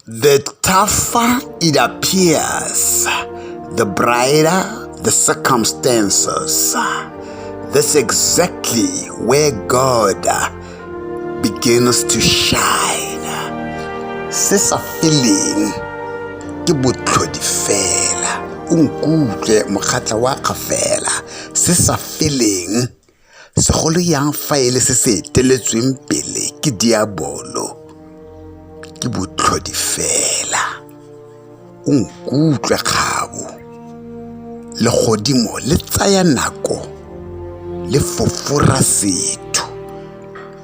The tougher it appears, the brighter the circumstances. That's exactly where God begins to shine. Se sa feeling ke botlhodi fela o nkutlwe mokgatla wa kgafela se sa feeling segolo yang fa e le se se eteletsweng pele ke diabolo ke botlhodi fela o nkutlwe kgabo legodimo le tsaya nako le fofora setho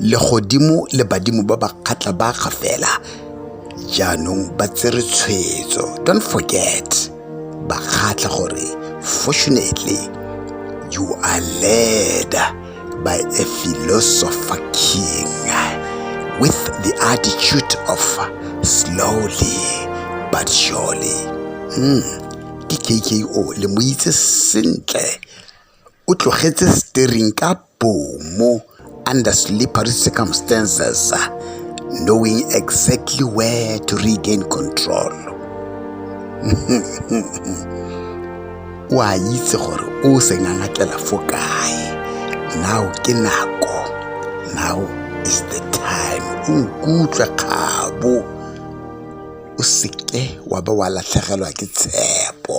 legodimo le badimo ba ba kgatla ba ga fela jaanong ba tsere tshwetso don't forget ba kgatla gore fortunately you are led by a philosopher king with the attitude of slowly but surely mm. ke kko le mo itse sentle O tlogetse steering ka bomo under slippery circumstances, knowing exactly where to regain control. o a itse gore o sengangakela fo kae now ke nako now is the time o nkutlwa kgabo o seke wa ba wa latlhegelwa ke tshepo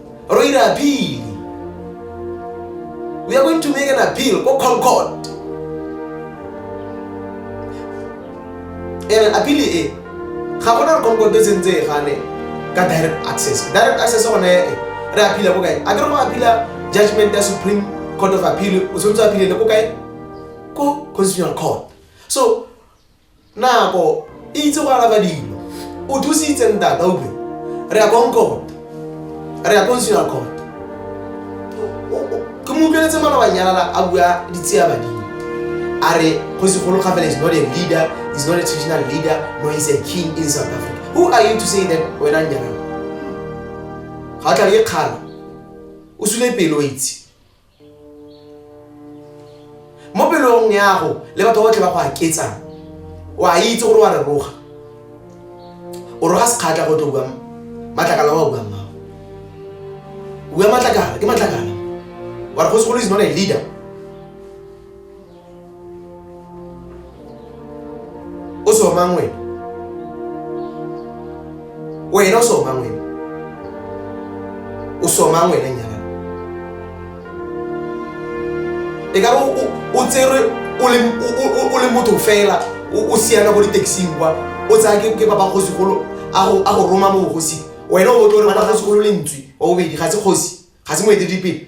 ro ira apili we are going to make an appeal ko concord ene apili e ga gona re concord e sentse e gane ka direct access direct access gone e re apila ko kae a ke re go apila judgment ya supreme court of appeal o tshwanetse apilele ko kae ko constitutional court so nako e itse go araba dilo o thusitse ntata utlwe re ya konkota re ya consular court ke mo utlweletse malobanyalala a bua ditshea badimo a re go segolo gafela is not a leader is not a traditional leader no is a king in south africa who are you to say that wena nyalana ga o tla le kgala o sule pele o itse mo pelong yago le batho botlhe ba go aketsang o a itse gore wa re roga o roga sekgatlha go tlo bua matlakala wa buang mao bua matlakala ke matlakala wa re go segolo is not a leader o sọ ma nwere wee ọ sọ ma nwere o sọ ma nwere nyara ị gara o tere ole moto fela o siana go di-taxi kwa o tsaya ke papa kgosigolo a go roma mo bogosing wena o botle gore papa kgosigolo le ntswe wa bobedi ga se kgosi ga se moeteledipele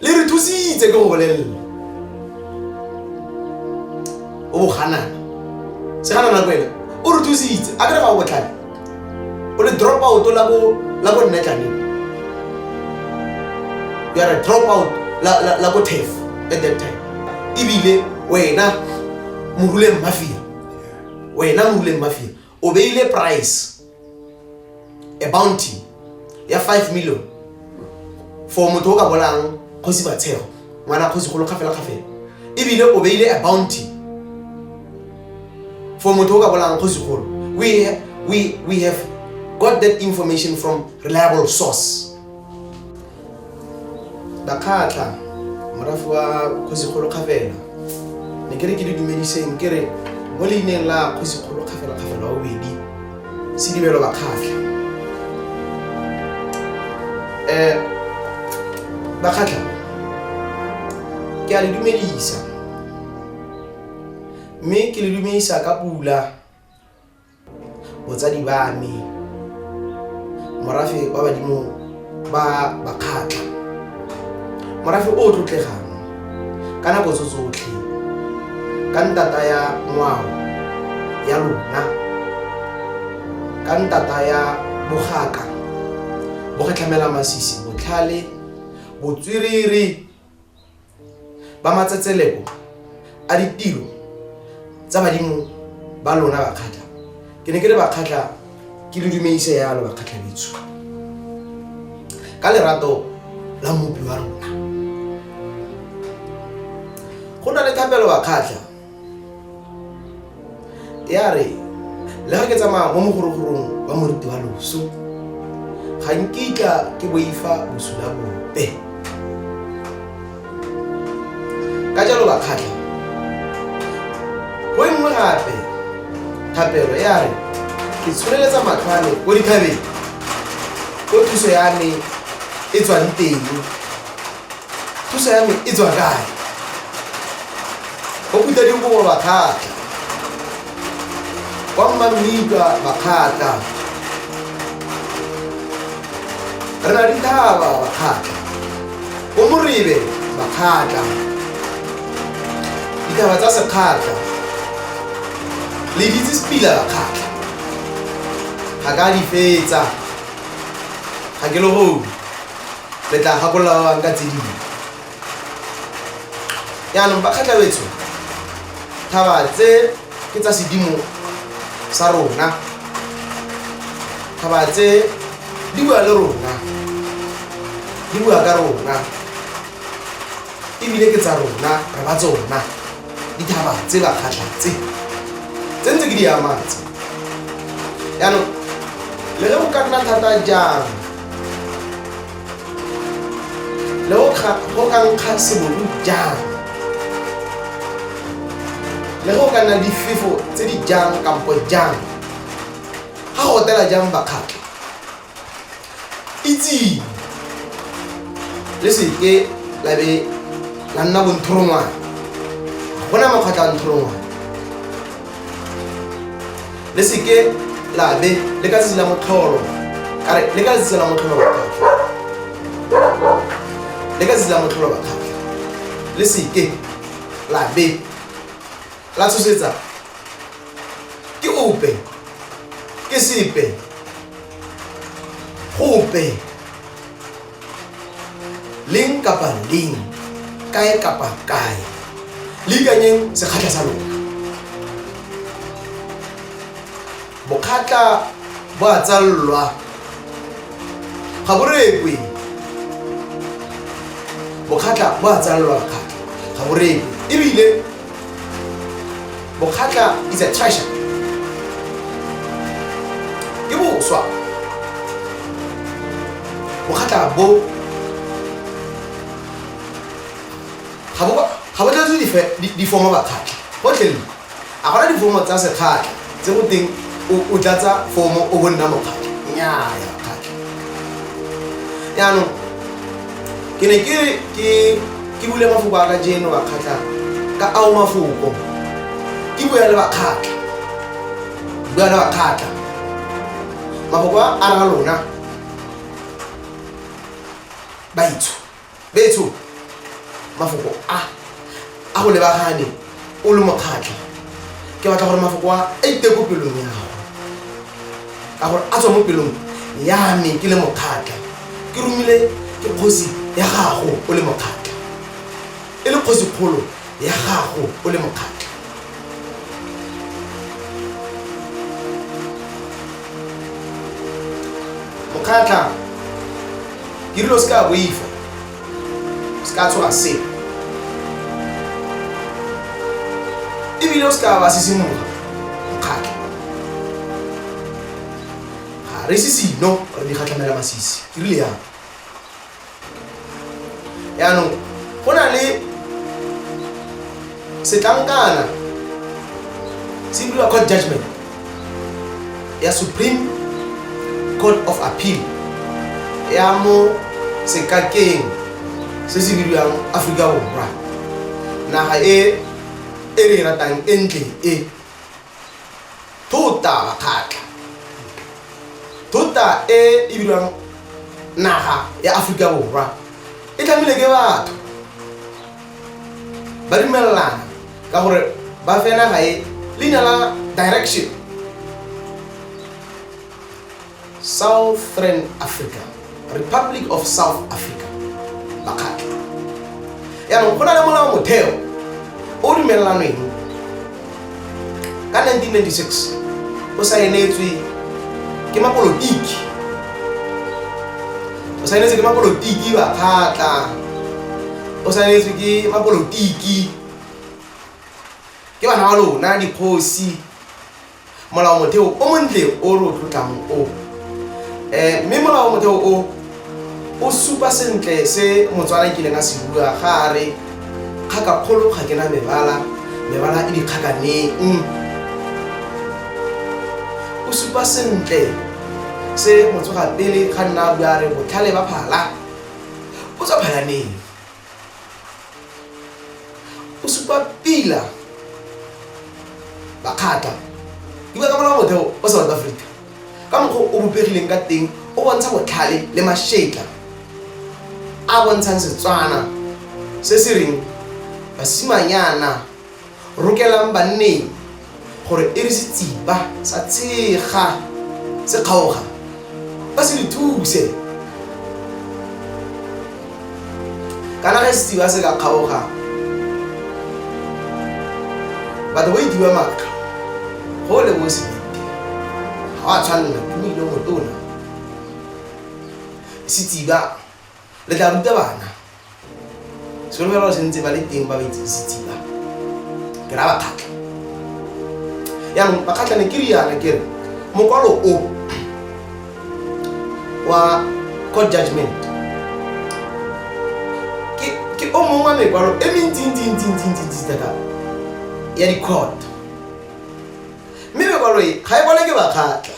le re thusitse ke go bolelele o boganana segana nako ena o re thusitse a kere ga o botlhale o le drop out la bo la bo nne tlane you are a drop out la la la bo tef at that time ebile wena moruleng mafia wena moruleng mafia o beile price a bounty ya five million for motho o ka bolang kgosi batshego ngwana kgosi golo kgafela kgafela ebile o beile a bounty for motho o ka bolang kgosi golo we, we, we have got that information from reliable source Bakgatla, morafe wa Kgosikgolo Kgafela. Ne ke re ke le dumediseng ke re mo leineng la Kgosikgolo Kgafela Kgafela wa bobedi, Sedibelo Bakgatla. Eh, Bakgatla, ke a le dumedisa. Mme ke le dumedisa ka pula. botsadi ba me morafe wa badimo ba bakgatlha morafe o o tlotlegang ka nako tso tsotlhe ka ntata ya ngwao ya lona ka ntata ya bogaka bo kgatlhamela masisi botlhale botswerere ba matsetseleko a ditiro tsa badimo ba lona bakgatlha ke ne ke le bakgatlha ke le dumeise yalo bakgatlha bitsho ka lerato la mopi wa rona go na le thapelo bakgatlha ya re le ga ke tsamaya mo mogorogorong wa moriti wa loso ga nkitla ke boifa bosula bope ka jalo bakgatlha go e nngwe gape thapelo ya re ke tsholeletsa matlhwane ko dithabeng ko thuso ya me e tswang teng thuso ya me e tswa kae go kuta dikobo bakgatlha kwa mmammika bakgatlha re na dithaba bakgatlha bo moribe bakgatlha dithaba tsa sekgatlha le ditse sepila bakgatlha ga ka di fetsa ga ke le godi re tla gakolola ba bangwe ka tse dingwe yaanong bakgatlhabetsho thaba tse ke tsa sedimo sa rona thaba tse di bua le rona di bua ka rona ebile ke tsa rona re ba tsona dithaba tse bakgatlha tse tse ntse ke di amatse yaanong le ge go ka nna thata jang go ka nkga sebolu jang le go ka nna difefo tse di jang kampo jang ga go otela jang bakgatlha itseng le seke la be la nna bonthorongwane go na makgwatlha a nthorongwane le seke la be le ka tsela motlholo are le ka tsela motlholo ba le ka tsela motlholo ba le seke la be la tshosetsa ke ope ke sepe gope leng kapa leng kae kapa kae le ikanyeng sekgatlha sa lona bokgatla bo a tsallwa ga bo rekwe bokgatla bo a tsallwa kgatla ga bo rekwe ebile Bokgatla is a treasure. Ke boswa. Bokgatla bo ga bo ga bo tlatse dife difomo bakgatla. Botlhelele. A gona difomo tsa sekgatla. tse go teng o tlatsa fomo o bo nna mokgatlho nnyaya mokgatlho jaanong ke ne ke ke ke bule mafoko a ka jeno bakgatlha ka ao mafoko ke bua le bakgatlha bua le bakgatlha mafoko a ra lona baitsho betsho mafoko a a go lebagane o le mokgatlha ke batla gore mafoko a a iteko pelong ya gago ka gore a tswa mo pelong ya me ke le mokgatlha ke romile ke kgosi ya gago o le mokgatlha e le kgosi kgolo ya gago o le mokgatlho mokgatlha ke dilo se ka boifa se ka tshoga se ebile o se ka ba sisimuga mokgatlha ga re sisino re di kgatlhamela masisi ke rile yang yaanong go na le setlankana se bidiwa court judgment ya supreme court of appeal ya mo sekakeng se se bidiwang aforika borwa naga e e re e ratang e ntle e thota makgatlha thota e e bidiwang naga ya aforika borwa e tlamile ke batho ba dumelelana ka gore ba fe naga e leina la direction Southern Africa, Republic of South Africa, makgatlho. Yaanong go na le molao motheo o o dumelelanweng ka 1996 o saenetswe ke mapolotiki o saenetswe ke mapolotiki bakgatla o saenetswe ke mapolotiki ke bana ba lona dikgosi molaomotheo o montle o re o tlotlang o um mme molaomotheo o o supa sentle se motswana e kileng a se bua ga a re kgaka kgolo ga ke na mebala mebala e dikgakaneng mm. o supa sentle se motsoga pele ga nna a bua re botlhale ba phala o tswa phalaneng o supa pila bakgatla dibua ka molao motheo o south africa ka mokgwa o bopegileng ka teng o bontsha botlhale le mašetla a bontshang setswana se se reng basimanyana rokelang banneng gore e re setsiba sa tshega se kgaoga ba se re thuse kana ge setsiba se ka kgaoga batho ba itiwa maaka go le mo sebite ga wa tshwanela tumile motona setsiba le tla ruta bana sekolo ba se ntse ba le teng ba ba itseng setsiba ke ra bakgatlha yaanong bakgatlha ne ke riana ke re mokwalo o wa court judgment ke- ke o mongwe wa mekwalo e mentsintsintsintsintsintsi thata ya di-court mme mekwalo e ga e kwale ke bakgatlha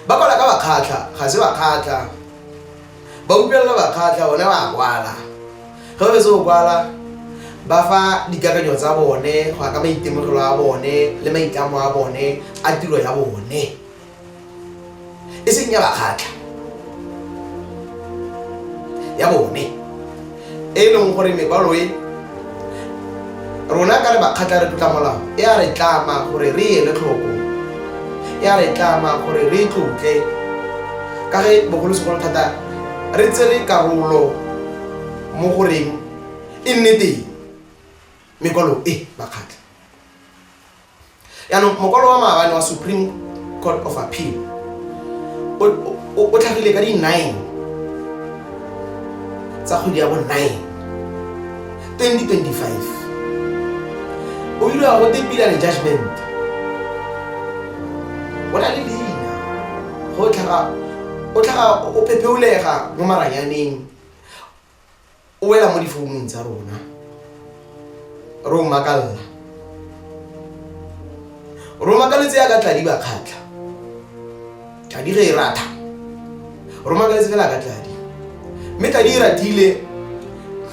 ba kwala ka bakgatlha ga se bakgatlha ba utlwelela bakgatlha one ba kwala ge ba betse go kwala ba fa dikakanyo tsa bone go ya ka maitemogelo a bone le maitlamo a bone a tiro ya bone e seng ya bakgatlha ya bone e e leng gore mekwalo e rona ka le bakgatla re tlotla molao e a re tlama gore re ele tlhoko e a re tlama gore re tlotle ka ge bogolosegolo thata re tsere karolo mo goreng e nne teng mekwalo e bakgatla yaanong mokwalo wa maabane wa supreme court of appeal o tlhagile ka di-nine tsa kgwedi ya bo-nine 2025 o ile wa gote pilane judgment o na le leina go tlhaga o tlhaga o phepheolega mo maranyaneng o wela mo difounung tsa rona re o makalela ro makaletse ya ka tladi ba kgatlha tladi re e ratha ro makaletse fela ka tladi mme tladi e ratile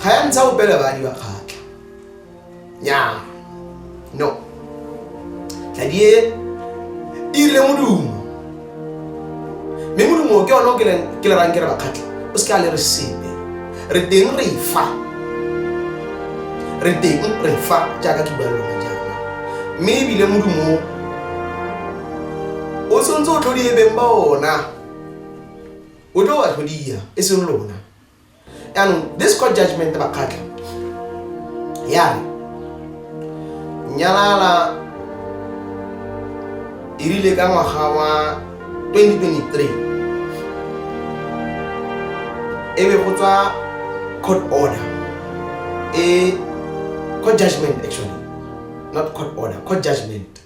ga ya ntsha opele badi ba kgatlha nyaa no tladie e rile modumo mme modumo ke one o ke le- ke le rang ke re bakgatlhe o se ke a le re sepe re teng re fa re teng re fa jaaka ke bua le lone jaana mme ebile modumo o, o tshwanetse o tlhodie beng ba ona o tlo wa tlhodia e seng lona yaanong this court judgment bakgatlha yare nyalala e rile ka ngwaga wa 2023 e be go tswa court order e court judgment actually not court order court judgment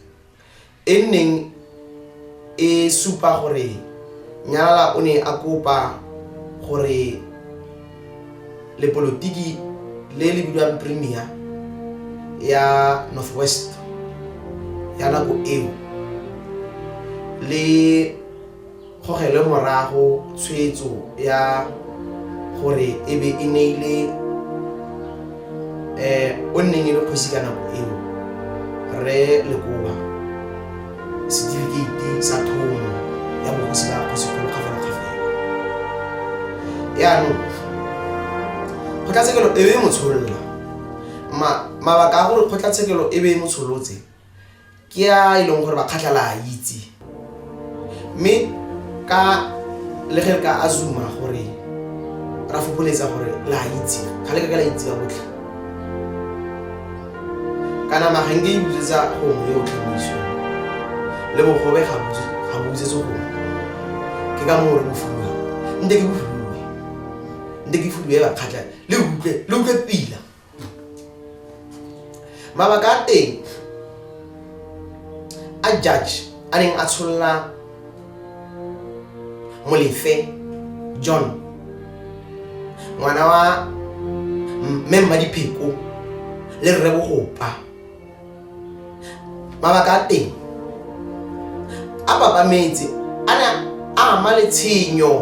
e nneng e supa gore Nyalala o ne a kopa gore lepolotiki le le bidiwang Premier ya North West ya nako eo le gogelwe morago tshwetso ya gore e be e neile um o nneng e le kgosi ka nako eo re lekoba setifikeiti sa thomo ya bogosi ba kgosigolo kgafelakgafela yaanong kgotlatshekelo e be e mo tsholola mabaka a gore kgotlatshekelo e be e mo tsholotse ke a e leng gore makgatlha la a itse mme ka le ge re ka azuma gore ra fokoletsa gore la a itse ga le ka ka la itse ka botlhe kana mageng ke ibutsetsa gongwe yo o tlhamiso le bogobe ga bobutsetse gongwe ke ka moo re bofulwa nte ke bofulwe nte ke fulwe bakgatlha le utlwe le utlwe pila mabaka a teng a judge a neng a tsholola molefe john ngwana wa mme mmadipheko le rre bogopa mabaka a teng a babametse a ne a ama letshenyo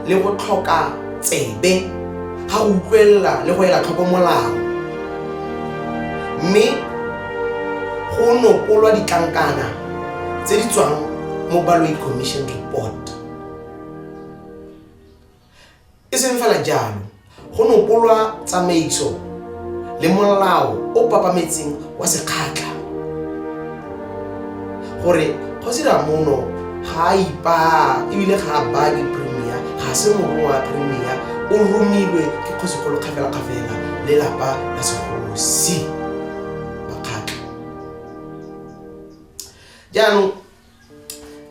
le go tlhoka tsebe ga go utlwelela le go ela tlhoko molao mme go nokolwa ditlankana tse di tswang mo baloid commission report E seng fela jalo, go nopolwa tsamaiso le molao o papametseng wa sekgatlha gore Kgosi Ramono ga a ipaa ebile ga a baa ke Premier, ga se morongwa wa Premier, o romilwe ke Kgosikgolo kgafelakgafela le lapa la segosi. Makgakga. Jaanong,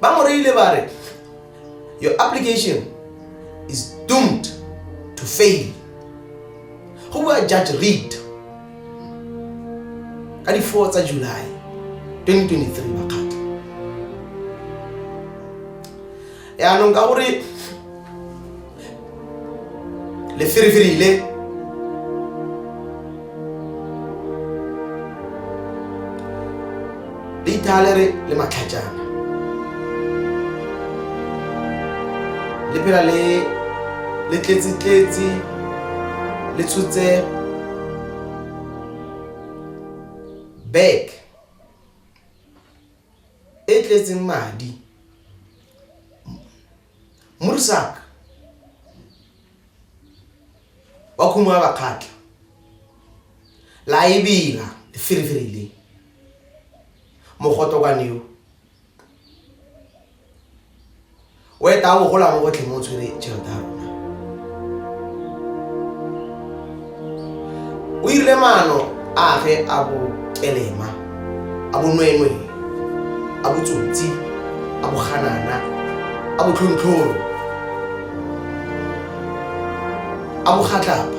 ba mo reile ba re your application is doomed to fail go bua judge read ka di-four tsa july 2023 makgato yaanong ka gore le firifirile le ithalere le matlhajana le phela le le tletsetletse le tshotse back e tletseng madi. Mursak wa khumo ya bakgatla la e bela firifiri le mogoto kwa neo o eta a bogola mo botlhe mo o tshwere tšhelete ya rona o irile maano age a bokelema a bonwenwe a botsotsi a boganana a botlhontlhoro a bogatlapa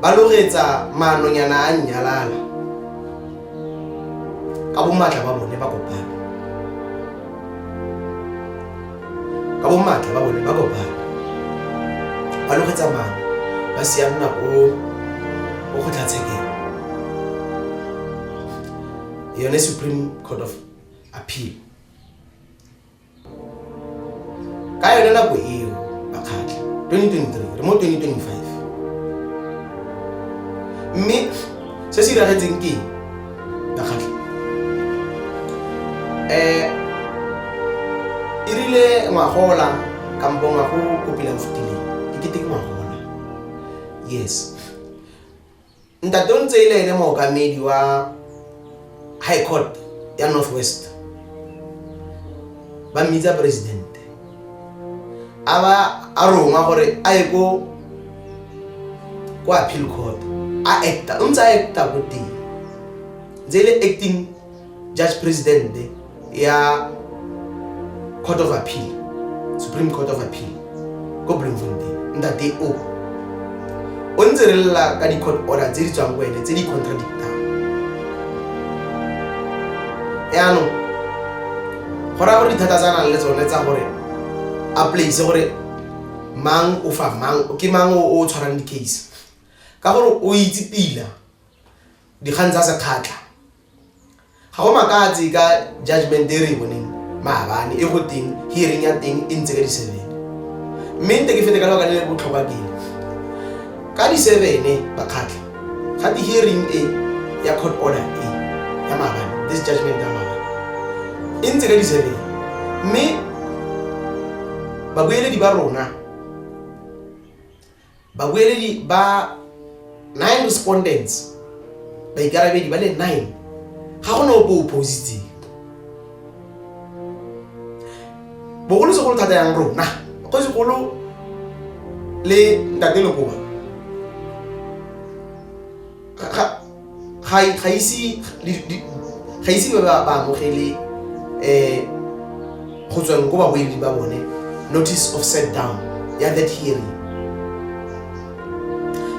ba lo reetsa maanonyana a nnyalala ka bomaatla ba bone ba kopana ka bomaatla ba bone ba kopana ba logetsa maano ba sianna ko ko kgotlatshekelo yone supreme court of appeal ka yone nako eo bakgatlha 2023 re mo 2025 mme se se iragetseng ke bakgatlha um eh, e rile ngwagola kampo ngwago kopila o fetileng ke keteke ngwagola yes Ntate o ntse e le ene mookamedi wa High Court ya North West. Ba mmitsa president. A ba a rongwa gore a ye ko ko appeal court a acta o ntse a acta ko teng ntse e le acting judge president ya court of appeal supreme court of appeal ko bloemfontein ntate o o ntse re lela ka di-court order tse di tswang ko ene tse di contradictang yaanong go raya gore dithata tsa nang le tsone tsa gore a place gore mang o fa mang ke mang o tshwarang di-case ka gore o itse pila dikgang tsa sekgatlha ga go makatse ka judgment e re e boneng maabane e go teng hearing ya teng e ntse ka di-seven mme nte ke fete ka lebaka le le botlhokwa keng ka di-sevene bakgatlha ga di-hearing e ya court order e ya maabane this judgment ya maabane e ntse ka di-seven mme babueledi ba rona babueledi ba nine respondents baikarabedi ba le nine ga go ne ope o positseng bogolosegolo thata yang rona go segolo le ntate lekoba ga ise ba ba ba amogele um go tsweng ko babueledi ba bone notice of set down ya that hearing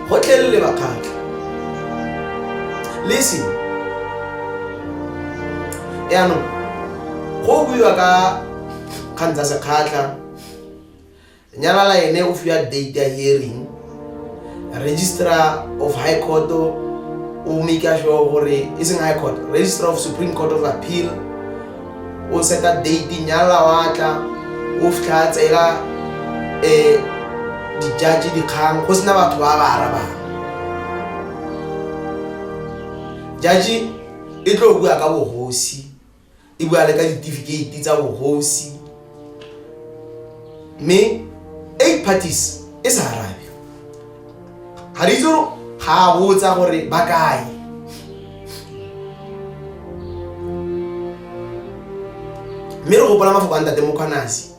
go tlelele bakgatlha lese yaanong go buiwa ka kgang tsa sekgatlha nyalala ene o fiwa date ya hearing registrar of high court o make sure gore e seng high court registrar of supreme court of appeal o seta date nyalala wa tla o fitlha a tsela um eh, dijaji dikgang go sena batho ba ba arabang jaji e tlo bua ka bogosi e bua le ka ditifikeiti tsa bogosi mme eight parties e sa arabe ga re itse gore ga a botsa gore ba kae mme re gopola mafoko a ntate mokgwanase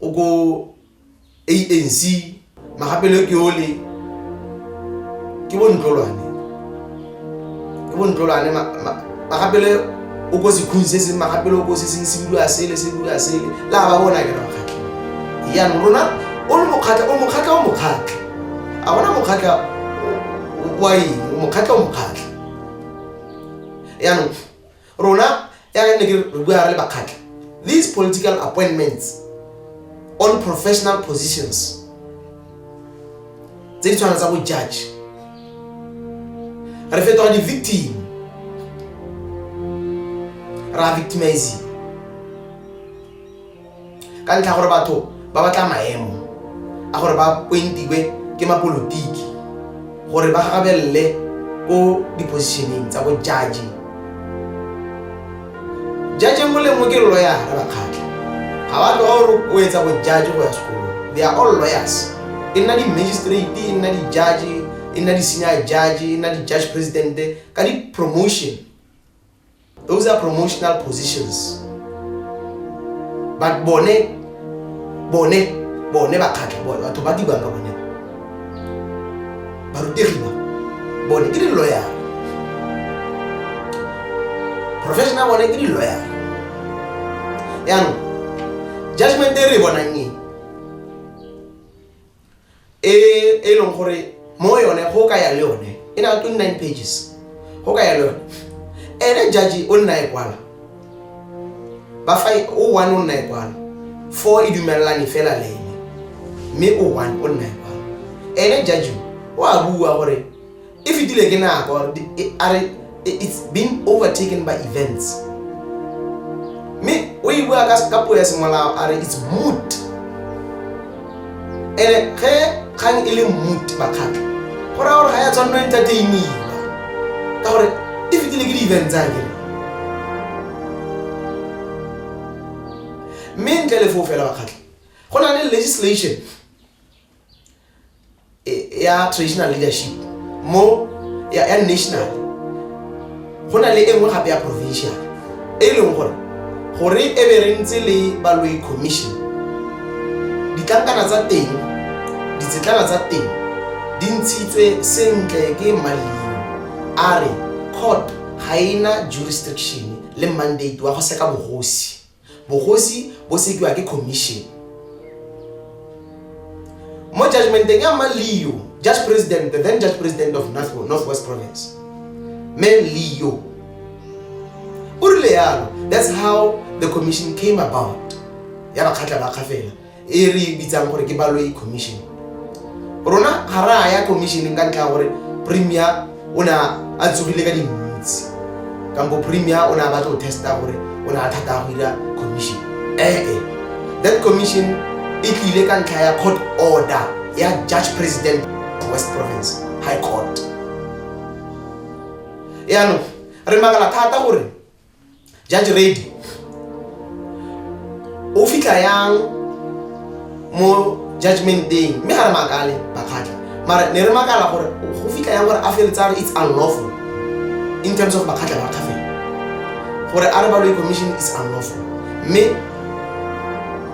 o ko anc magapelo ke ole ke bontlolwane ke bontlolwane magapelo o ko sekhung se seng magapelo o ko se seng se bidiwa sele se bidiwa sele le a ba bona ke makgatlha yanong rona o le mokgatlha o mokgatlha o mokgatlha a gona mokgatlha wa eng mokgatlha o mokgatlha yanong Rona jaaka nne ke re bua re le Bakgatla, these political appointments on professional positions tse di tshwana tsa bo judge re fetoga di-victim ra victimizing ka ntlha ya gore batho ba batla maemo a gore ba pointiwe ke mapolotiki gore ba gagabelele ko di-positioneng tsa bo judge judge nngwe le nngwe ke loyara bakgatlha ga ba tloga gore o etsa bo judge go ya sekolong they are all lawyers e nna di-magistrate e nna di-judge e nna di-senior judge e nna di-judge presidente ka di-promotion those are promotional positions but bone bone bone bakgatlha bone batho ba dibang ka bone barutegi ba bone ke di-lawyer professional bone ke di-lawyer yaanong judgment e re e bonang e e e leng gore mo yone go ka ya le yone e na 29 pages go ka ya le yone ene jaji o nna e kwala ba fa o one o nna e kwala fo e dumelelane fela le ene mme o one o nna e kwala ene jaji o a bua gore e fetile ke nako a re it's been overtaken by events mme o e bua ka puo ya semolao a re it's moot ene ge kgang e le moot bakgatlha go raya gore ga ya tshwanno entertainiwa ka gore e fetile ke di-event tsa ke mme ntle le foo fela bakgatlha go na le legislation e- ya traditional leadership mo ya, ya national go na le e nngwe gape ya provincial e e leng gore gore e be re ntse le baloi commission ditlankana tsa teng ditsetlana tsa teng di ntshitswe sentle ke mmaleng a re court ga e na jurisdiction le mandate wa go seka bogosi bogosi bo sekiwa ke commission mo judgmenteng ya mma leo judge president the then judge president of north, northwest province me leo o rile yalo that's how the commission came about ya bakgatlha ba kgafela e re e bitsang gore ke baloyi commission rona ga re a ya commissioneng ka ntlha ya gore premier o ne a tsogile ka dintsi kampo premier o ne a batla go testa gore o ne a thata ya go dira commission ee that commission e tlile ka ntlha ya court order ya judge president west province high court yaanong re makala thata gore judge ready o fitlha yang mo judgmenteng mme ga re makale bakgatlha mara ne re makala gore go fitlha yang gore a feletsa re it's unlawful in terms of bakgatlha ba kgafela gore a re baloi commission is unlawful mme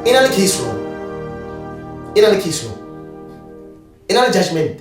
e na le case law e na le case law e na le judgment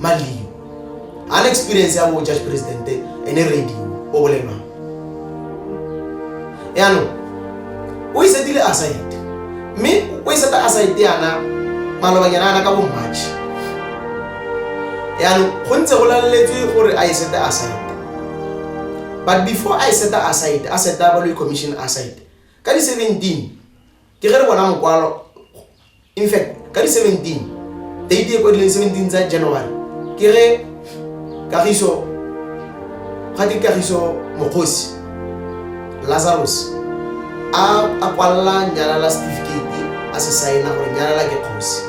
malio ga na experience ya bo judge president ene radio o bolelwang yaanong o isetile aside mme o iseta aside yana malobanyana yana ka bo march yaanong go ntse go laleletswe gore a isete aside but before a iseta aside a seta baloi commission aside ka di-seventeen ke ge re bona mokwalo In fact, ka di 17, date e kwadileng 17 tsa January, ke re Kagiso, ga di Kagiso Mokgosi, Lazarus, a a kwalla nyalala certificate a se saena gore nyalala ke kgosi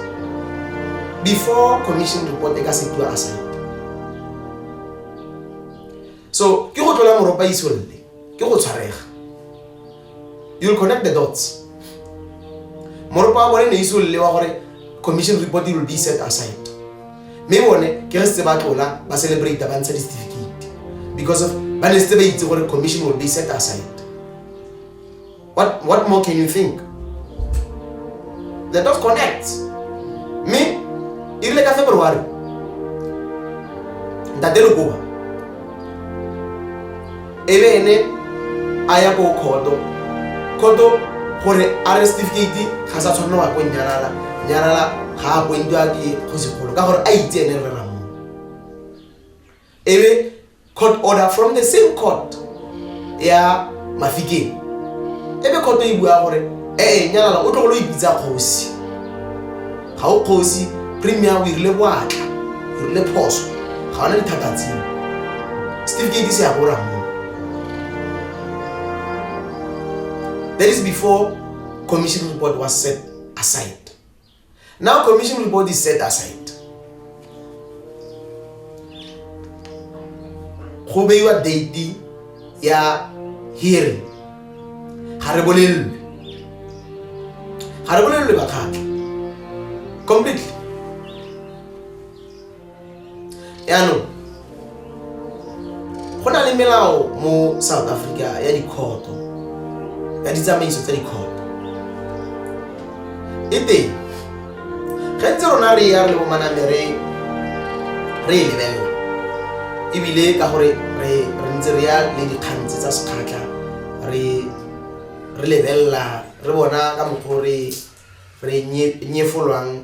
before commission report e ka setiwa a saena so ke go tlola moropa isolle ke go tshwarega you'll connect the dots moropo wa bone ne ise o lelewa gore commission report will be set aside mme bone ke re setse ba tlola ba celebrate ba ntsha di-certificate because of ba ne setse ba itse gore commission will be set aside what, what more can you think the dot connect mme e rile ka february ntate lekoa e be ene a ya ko kgoto kgoto gore a re certificate ga sa tshwanela wa ko nyalala nyalala ga a kwentiwa ke kgosigolo ka gore a itse ene re ramo ebe court order from the same court ya mafikeng ebe kgoto e bua gore ee nyalala o tlogolo ipitsa kgosi ga o kgosi premier o irile boatla o rile phoso ga ona dithata tseo setifikeiti se ya go ramo that is before commission report was set aside now commission report is set aside go beiwa date ya hearing ga re bolelelwe ga re bolelelwe bakgatlha completely yaanong go na le melao mo south africa ya dikhoto ya ditsamaiso tsa dikhoto e teng ge ntse rona re ya re le bomaname re re e lebelela ebile ka gore re ntse re ya le dikgantse tsa sekgatlha re re lebelela re bona ka mokgwa re re nyefolwang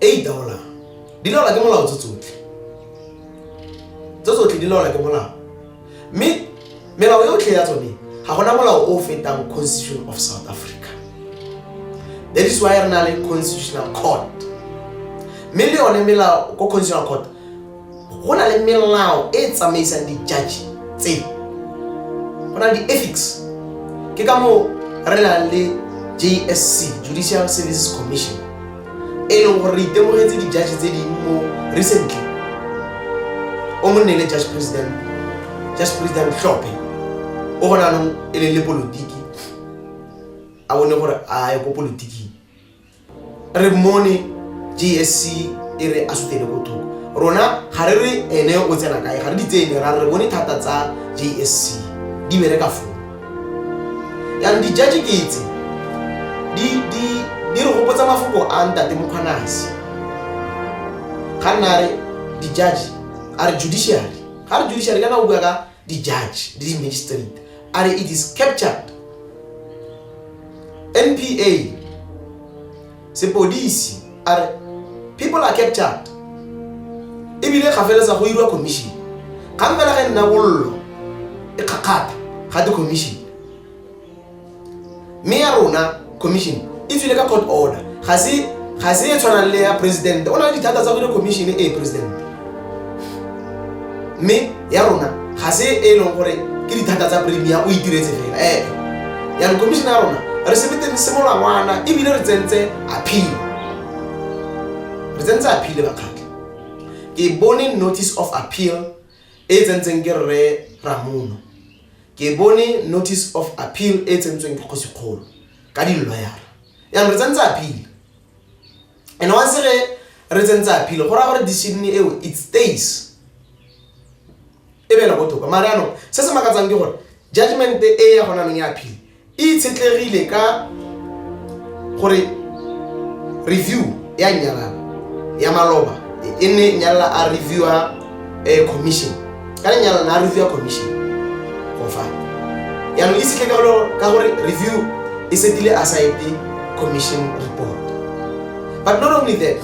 e itaolang di laola ke molao tse tsotlhe tse tsotlhe di laola ke molao mme melao yotlhe ya tsone ga gona molao o fetang constitution of south africa that is why re na le constitutional court mme le yone melao ko constitutional court go na le melao e e tsamaisang di-judge tse go na le di-ethics ke ka moo re nang le jsc judicial services commission e leng gore re itemogetse di-judge tse ding mo recently o monne le judge president judge president tlhophe o gona anong e le le polotiki a bone gore a ye ko politiking re mone jsc e re a sutele bothoko rona ga re re ene o tsena kae ga re di tsene ra re bone thata tsa jsc di bereka foo yanong dijaji ke tse di re gopotsa mafoko a ntate mokgwanase ga nna re dijaji a re judiciary ga re judiciary kana o bua ka the judge, the magistrate. Are it is captured. NPA, sepodisi, are people are captured. Ebile ga feletsa go irwa commission. Ga mpela ge nna bollo e kgakgatha ga di commission. mme ya rona commission e tswile ka court order ga se ga se e tshwanang le ya president o na le dithata tsa gore commission e president mme ya rona ga se e leng gore ke dithata tsa premier o itiretse fela ee eh, yang commission ya rona re sebetseng simolola ngwana ebile re tsentse appeal re tsentse appeal bakgatlha ke bone notice of appeal e tsentseng ke rre ramono Ke bone notice of appeal e tsentsweng ke kgosikgolo ka di-lawyer. Yang re tsentse appeal. And once re re tsentse appeal go ra gore decision eo it stays. E be le go toka. Mara no se se makatsang ke gore judgment e ya gona neng ya appeal E itshetlegile ka gore review ya Nyalala ya maloba e ne Nyalala a reviewa eh, commission ka ne Nyalala a reviewa commission go fa yaanong e setle ka lo- ka gore review e setile a sa ete commission report but not only that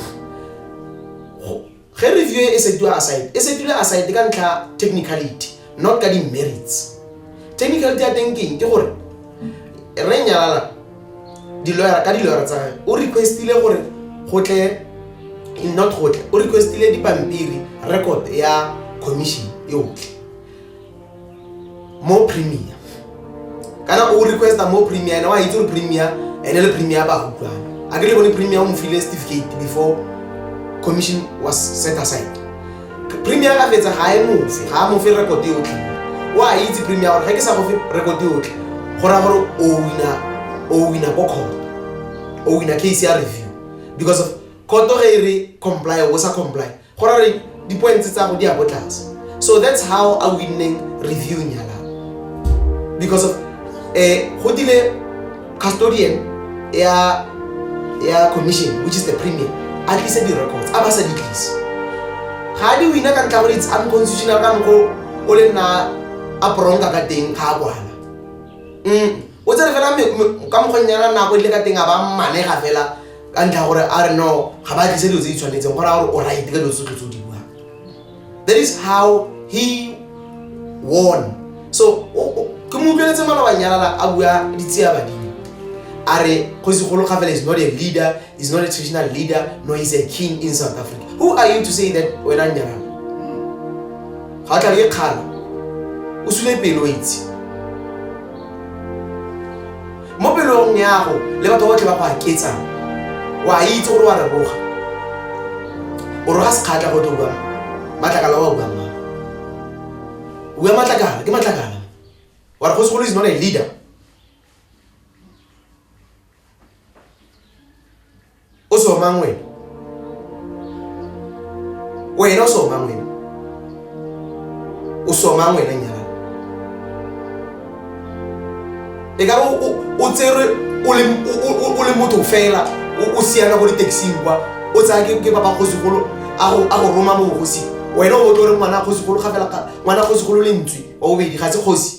Ge review e e setiwa aside, e setilwe aside ka ntlha ya technicality, not ka di-merits. Technicality ya teng keng? Ke gore Rre Nyalala di-lawyer, ka di-lawyer tsa gage o requestile gore go tle in not go tle, o requestile dipampiri, record ya commission yotlhe. more premier kana o requesta more premier ene wa itse gore premier ene le premier ba utlwana a ke le bone premier o mo file certificate before commission was set aside premier a fetsa ga e mofe ga a mofe record e otlhe o a itse premier gore ga ke sa gofe record e otlhe go raya gore o wina o wina ko court o wina case ya review because of court ge e re comply o sa comply Go ra gore di-points tsa go di ya ko tlase. So that's how a winneng review nyala. Because of eh go dile custodian ya ya commission which is the premier a tlise di-records a ba sa di tlise. Ga di wina ka ntlha gore it's unconstitutional ka mokgwa o le nna a poronka ka teng ga a kwana. Mm. o tsere fela ka mokgweng yana nako e dile ka teng a ba mmanega fela ka ntlha gore a re no ga ba tlise dilo tse di tshwanetseng go raya gore o right ka dilo tsotlhe tse o di buang that is how he won so ke mo utlweletse malobanyalala a bua ditseya badimo a re kgosi golo ga fela is not a leader He's not a traditional leader, nor he's a king in South Africa. Who are you to say that when I'm young? How can you call? Usule pelo itse. Mo pelong ya go le batho botlhe ba go aketsa. Wa itse gore wa leboga. O roga sekgatla go tlo bua. Matlakala wa bua mma. O bua matlakala, ke matlakala. Wa re go segolo is not a leader. o somang wena wena o somang wena o somang wena nyala e ka o tserwe o le motho fela o siana ko ditaxing kwa o tsaya ke ba ba kgosigolo a go roma mo bogosing wena o botlore ngwana kgosigolo ga fela ngwana kgosigolo lentswe wa bobedi ga se kgosi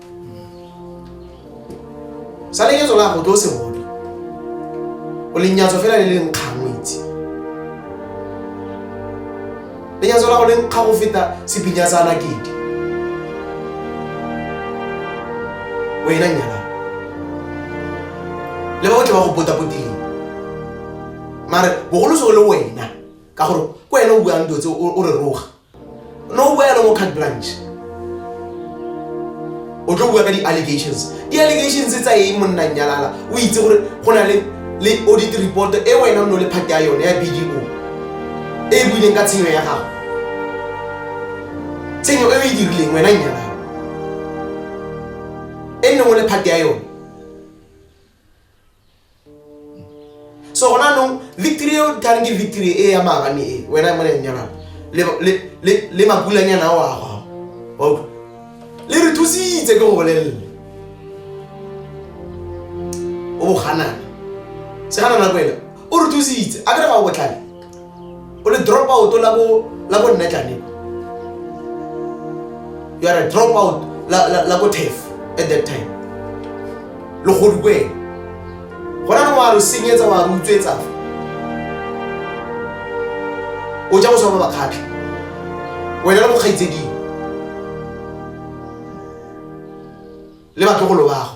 sa leketso la gago ke o se bone o lenyatso fela le leng kgangwe itse lenyatso la go leng kga go feta sepinya sa nakete wena nyala le ba botle ba go potapotileng mare bogolo se o le wena ka gore ko wena o buang dilo tse o re roga no boya le mo card branch o tlo bua ka di-allegations di-allegations tsa eng monna nyalala o itse gore go na le le audit report e wena o ne o le phate ya yone ya bdo e e buileng ka tshenyo ya gago tshenyo e o e dirileng wena nyalala e nne o le phate ya yone so gona anong victory eo tla reng ke victory e ya maabane e wena mo lenyana le makulanyana ao a gago le re thusitse ke go bolelele o boganana se gana nako ena o re thusitse a ke re ga o botlhale o le drop out la bo la bo nna tlaneng you are a drop out la la la bo thef at that time lo go di kweng gona no wa lo senyetsa wa re utswetsa o ja go swa ba bakgatlha wena le mokgaitseding le batlogolo bago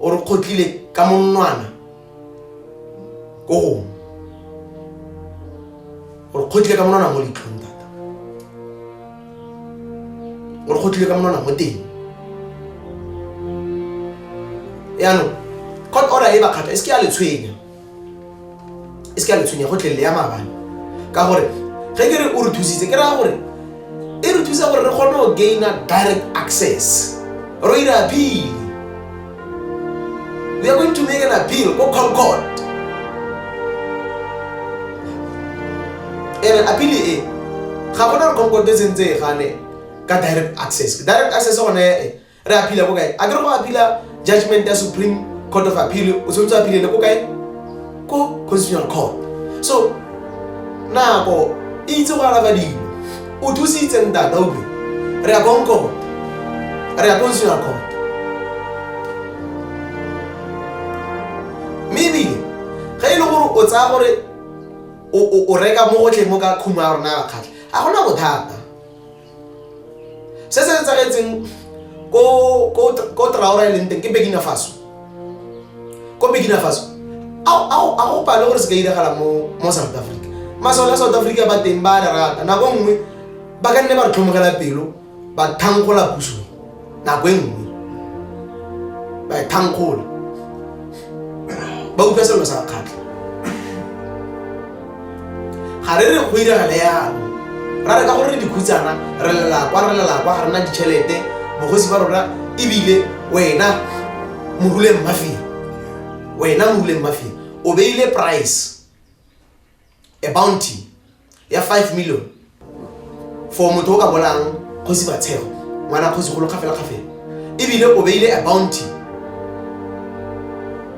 o re kgotlile ka monwana ko gongwe gore kgotlile ka monwana mo leitlhong thata gore kgotlile ka monwana mo teng yaanong court order e ba kgatha e se ke ya le tshwenya e se ka letshwenya go tlelele ya maabane ka gore ge ke re o re thusitse ke raya gore e re thusa gore re kgone go gaina direct access ro ira appeal we are going to make an appeal ko concord ere appeal e ga gona re concord e sentse e gane ka direct access direct access gone e Re appeal-a ko kae? A ke re go appeal-a judgment ya Supreme Court of Appeal o tshwanetse appeal-ele ko kae? Ko Constitutional Court. So nako e itse go alafa dilo. O thusitse ntata utlwe. Re ya ko court. Re ya Constitutional Court. Mme ebile ge e le gore o tsaya gore o reka mo gotlhe mo ka khumo ya rona ya bakgatlha ga gona bothata se se etsagetseng ko traora e leng teng ke bekina faso ko bekina faso a go pale gore se ka iragala mo south africa masole a south africa ba teng ba re rata nako nngwe ba ka nne ba re tlhomogela pelo ba thankgola puso nako e nngwe baethankgolo ba utlwa selo sa kgatlha ga re re go iragale yalo ra re ka gore dikhutsana re lelakwa re lelakwa ga rena ditšhelete mogosi ba rona ebile wena moruleng mafia wena moruleng mafia o beile price a bounty ya 5 million for motho o ka bolang kgosi batshego ngwana kgosi golo kgafela kgafela ebile o beile a bounty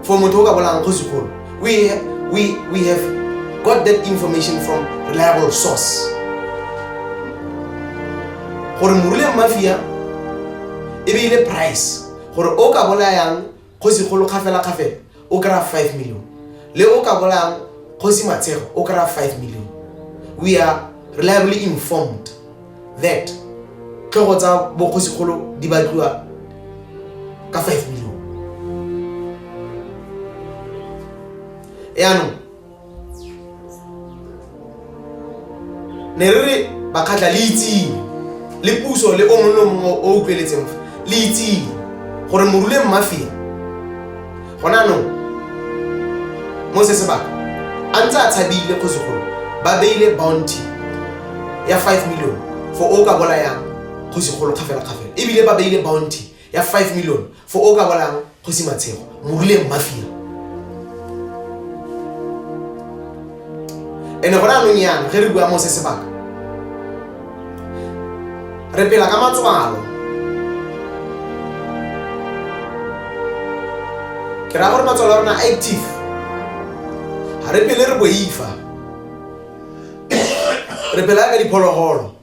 for motho o ka bolang kgosi golo we, we, we have got that information from reliable source gore morule mafia e beile price gore o ka bolayang kgosi kgolo kgafelakgafela o kry-a five million le o ka bolayang kgosi matshego o kry-a five million we are reliably informed that tlhogo tsa bokgosi kgolo di batliwa ka five million yaanong ne re re bakgatlha le itseng le puso le o mongwe le o mongwe o o utlweletseng fa le itseng gore morule mmafeng gona anong mo se sebaka a ntse a tshabile kgosigolo ba beile bounty ya five million for o ka bolayang kgosigolo kgafela-kgafela ebile ba beile bounty ya five million for o ka bolayang Kgosi Matshego, Moruleng Mafia. And-e gone anong yana, ge re bua mo se sebaka, re pela ka matswalo. Ke raya gore matswalo a rona a active, ga re pele re boifa, re pela ka diphologolo.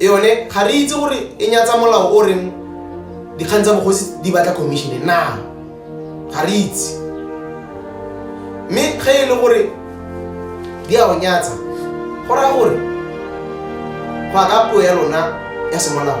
yone ga re itse gore e nyatsa molao o reng dikgang tsa bogosi di batla commissione na ga re itse mme ge e le gore di a o nyatsa go raya gore go ya ka puo ya lona ya semolao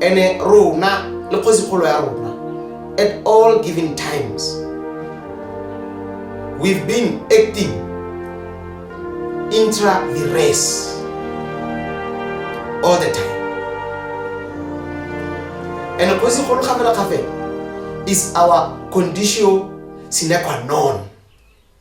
ene rona le kgosigolo ya rona at all given times we've been acting intra the race all the time ene kgosigolo gafela gafela is our condition sine qua non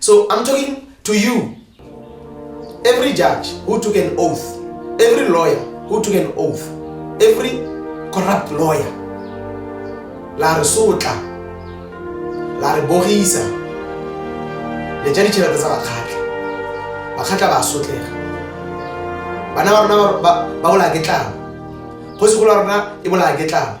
So I'm talking to you. Every judge who took an oath, every lawyer who took an oath, every corrupt lawyer, la re sotla, la re bogisa, le ja ditšhelete tsa bakgatlha. Bakgatlha ba sotlega. Bana ba rona ba bolaya ke tlala. Kgosi go la rona e bolaya ke tlala.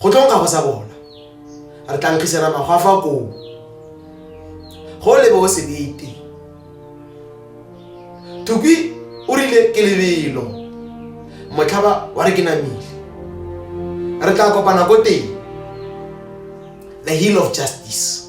go tlo nkgago sa bona re tla nkgisela magwa fa koo go lebe o sebete thukwi o rile ke lebelo motlhaba wa re ke namile re tla kopana ko teng the hill of justice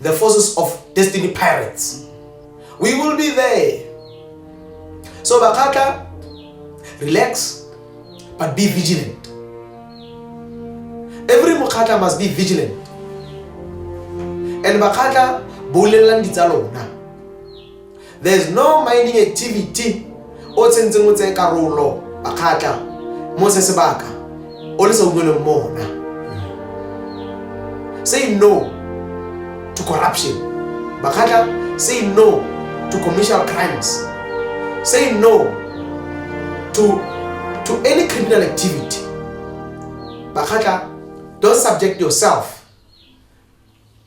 the forces of destiny pirates we will be there so bakgatla relax but be vigilant every mokgatla must be vigilant and bakgatla bolelelang ditsa lona There's no mining activity o tsentseng o tseye karolo bakgatla mo se sebaka o le sa utlweleng mona. Say no to corruption. Bakgatla, say no to commercial crimes. Say no to, to any criminal activity. Bakgatla, don't subject yourself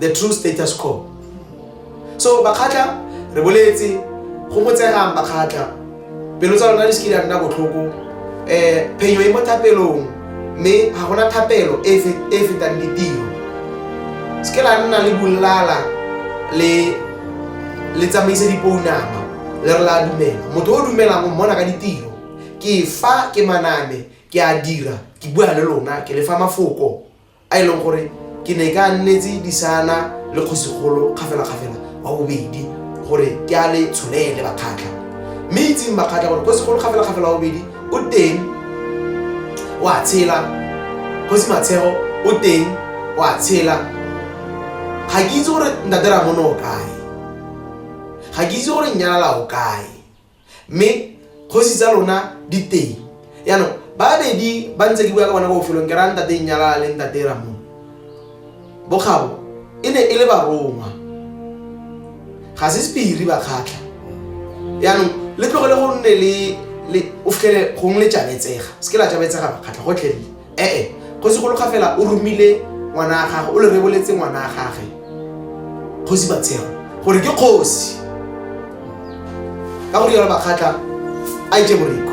the true status quo so bakgatla re boletse go botsegang bakgatla pelo tsa lona di se ke di a nna botlhoko um eh, phenyo e mo thapelong mme ga gona thapelo e, e fetang ditiro se ke la nna le bolala le le tsamaise dipounama le re la dumela motho o dumelang o mmona ka ditiro ke fa ke maname ke a dira ke bua le lona ke lefa mafoko a e leng gore ke ne ka nnetse disana le kgosigolo kgafelakgafela wa bobedi gore ke a le tsholele bakgatlha mme itseng bakgatlha gore kgosigolo kgafelakgafela wa bobedi o teng o a tshela kgosi matshego o teng o a tshela ga ke itse gore ntatera mono o kae ga ke itse gore nyalala o kae mme kgosi tsa lona di teng yaanong babedi ba ntse ke bua ka bona bofelong ke raya ntate nnyalala le ntate ramo bokgabo e ne e le barongwa ga se sepiri ba kgatlha yaanong le tlogele go nne le o fitlhele gongwe le tšabetsega se ke la tšabetsega ba kgatlha gotlhelele Ee, kgosi go loga fela o romile ngwana wa gagwe, o le reboletse ngwana wa gagwe, kgosi Batshego, gore ke kgosi. Ka go rialo Makgatla a itse boriko.